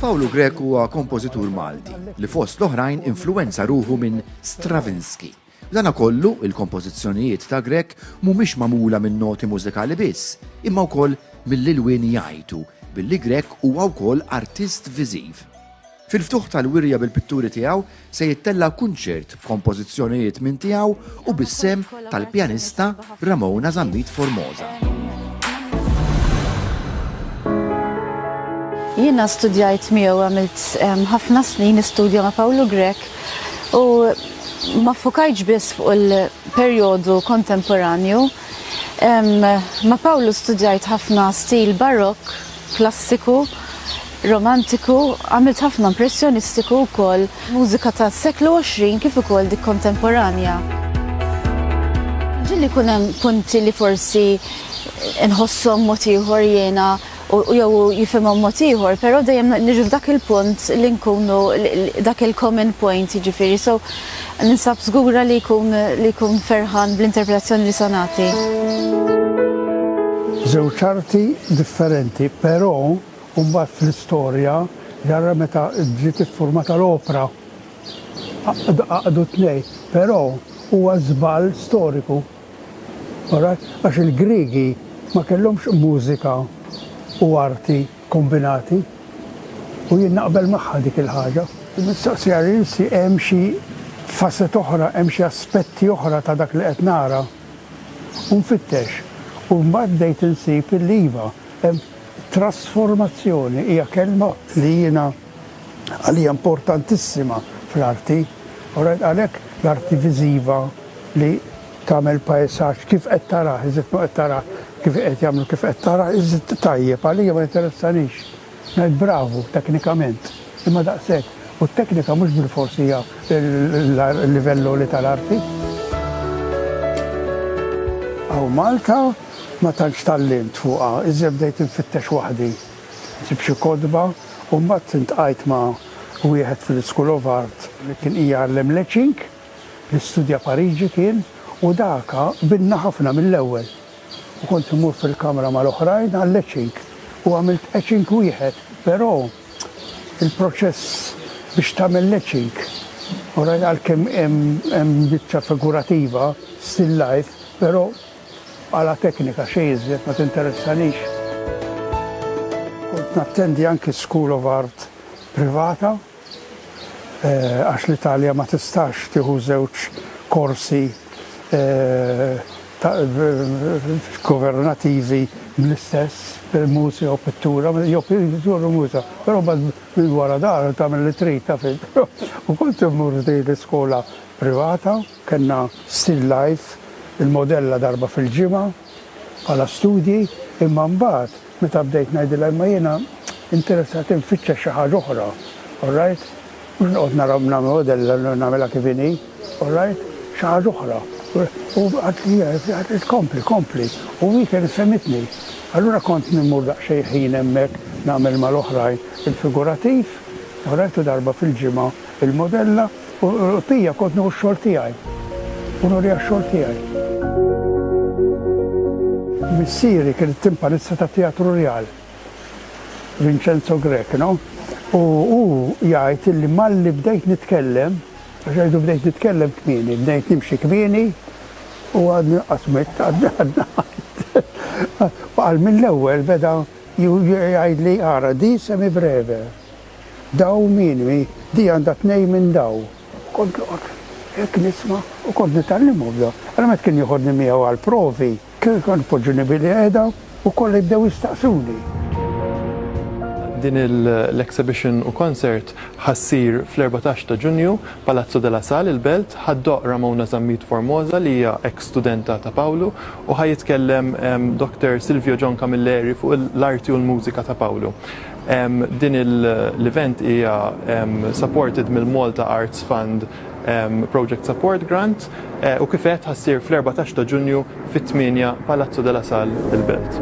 Pawlu Grek huwa kompożitur Malti li fost l-oħrajn influenza ruħu minn Stravinsky. Dana kollu il-kompożizzjonijiet ta' Grek mhumiex magħmula minn noti mużikali biss, imma wkoll mill-ilwien jgħajtu billi Grek huwa wkoll artist viżiv. Fil-ftuħ tal-wirja bil-pitturi tiegħu se jittella' kunċert b'kompożizzjonijiet minn tiegħu u bis-sehem tal-pjanista Ramona Zammit Formosa. Jiena studjajt miegħu għamilt ħafna snin nistudja ma' Pawlu Grek u ma fukajtx biss fuq il-perjodu kontemporanju. Ma' Pawlu studjajt ħafna stil barokk klassiku, romantiku, għamilt ħafna impressjonistiku wkoll, mużika tas-seklu 20 kif ukoll dik kontemporanja. Ġieli jkun hemm punti li forsi nħosshom mod ieħor jiena u jew hu jifhimhom mod ieħor, però dejjem niġu f'dak il-punt li nkunu dak il-common point jiġifieri so Ninsab żgura li jkun li jkun ferħan bl-interpretazzjoni li se nagħti. Żewġ arti differenti, però mbagħad fl-istorja ġara meta ġiet iffurmata l-opra. Għaqdu t-tnejn, però huwa żball storiku. Għax il-Griegi ma kellhomx mużika u arti. kombinati u jien naqbel magħha dik il-ħaġa. Il-mistoqsija li nsi hemm xi facet oħra, hemm xi aspetti oħra ta' dak li qed nara u nfittex u mbagħad bdejt insib illi iva hemm trasformazzjoni hija kelma li jiena għalija importantissima fl-arti, alright, għalhekk l-arti viżiva li tagħmel pajsaġġ kif qed tarah, iżid ma qed tarah kif qed jagħmlu kif qed tarah, iżid tajjeb għalija ma jinteressanix. Ngħid bravu teknikament, imma daqshekk. U t-teknika mhux bilfors hija l-livell għoli tal-arti. Hawn Malta ma tantx tgħallimt fuqha, iżjed bdejt infittex waħdi. Ġibt xi kotba u mbagħad iltqajt ma' wieħed fil-School of Art li kien qiegħ jgħallem l-etching, li studja Pariġi kien, u dak qbidna ħafna mill-ewwel. U kont immur fil-kamra mal-oħrajn għall-etching u għamilt etching wieħed, però il-proċess biex tagħmel l-etching, u rajt għalkemm hemm biċċa figurativa, still life, però Bħala teknika xejn iżjed ma tinteressanix. Kont nattendi anki School of Art privata għax l-Italja ma tistax tieħu żewġ korsi governativi bl-istess, mużika jew pittura, jew pittura u mużika. Però mbagħad minn wara dar tagħmel li trid taf int. U kont immur f'din l-iskola privata. Kellna still life, il-modella darba fil-ġimgħa bħala studji, imma mbagħad meta bdejt ngħidilha imma jiena interessat infittxa xi ħaġa oħra, alright? Mhux noqgħod nara nagħmel modella nagħmilha kif inhi, alright? Xi ħaġa oħra. U qaltli qaltli kompli, kompli. U hi kienet fehmitni. Allura kont immur daqsxejn ħin hemmhekk nagħmel mal-oħrajn il-figurativ, alright, u darba fil-ġimgħa il-modella. U Pija kont nieħu x-xogħol tiegħi. U nuriha x-xogħol tiegħi. Missieri kien it-timpanista tat-Teatru Rjal, Vincenzo Grech, no? U hu jgħid illi malli bdejt nitkellem, għax jgħidu bdejt nitkellem kmieni, bdejt nimxi kmieni u għadni qatt mitt, għadni għadna Qal mill-ewwel beda jgħidli ara di semi breve. Daw minimi, di għandha tnejn minn daw. Kont noqgħod hekk nisma' u kont nitgħallimhom daw. Ara meta kien joħodni miegħu għall-provi, kien kont ipoġġuni bilqiegħda u kollha jibdew jistaqsuni. Din l-exhibition u concert ħa ssir fl-erbatax ta' Ġunju, Palazzo della Sal, il-Belt. Ħa ddoqq Ramona Zammit Formosa li hija ex studenta ta' Pawlu u ħa jitkellem Doktor Silvio John Camilleri fuq l-arti u l-mużika ta' Pawlu. Din l-event hija supported mill-Malta Arts Fund Project Support Grant u kif għedt ħa ssir fl-erbatax ta' Ġunju fit-tmienja Palazzo de la Salle il-Belt.